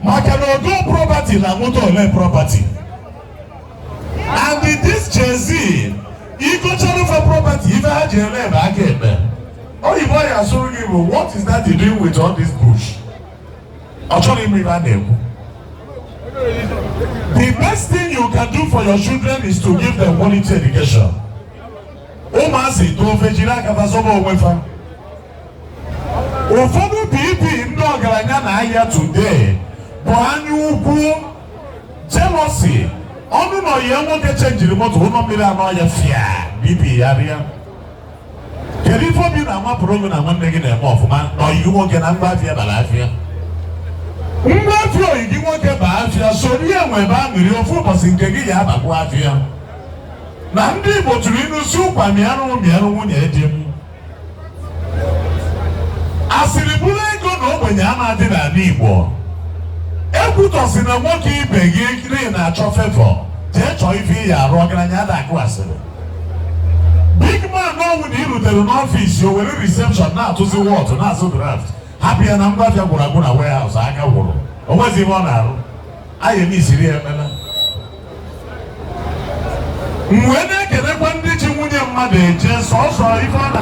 maka na ọ gọọ property na moto o lee property and this Gen Z ị gochara fa property ife ha ji eme ebe aka eme oyibo ọ ya-asụrụ gị bụ what is daddy doing with all this bush ọ chọrọ ime ife a na-ekwu the best thing you can do for your children is to give them quality education ụmụazị too fa ejiri aka fa zọba onwe fa ụfọdụ BP ndị ọgaranya na-arịa today bụ anya ukwu jealousy ọ nụ na ọyị ya nwoke chenjiri moto ụlọ mmiri anọ ya afịa BP ya arịa kedu ife obi na-amapụrụ gị na nwanne gị na-eme ọfụma na ọyị gị nwoke na ngwa afịa bara afịa ngwa afịa ọyị gị nwoke ba afịa soro ya nwebe aṅụrị ofu ụbọchị nke gị ya abakwa afịa na ndị Igbo tụrụ inu sị ụkwa mịarụ mịarụ nwunye di m asịrị bụrụ ego na ogbenye a na-adị n'ala Igbo ekwutọzina nwoke ibe gị n'ihi ị na-achọ favour jee chọọ ife ị ya-arụ ọgaranya ada akụ asịrị big man ọbụna i rutere n'ọfịs o were reception na-atụzi whot na-azụ draft hapụ ya na ngwa afịa gwụrụ agwụ na warehouse aka gwụrụ o nweghịzi ihe ọ na-arụ anyị emeziri ya ekpere mgbe na-ekelekwa ndị ji nwunye mmadụ eje sọsọ ife ọ na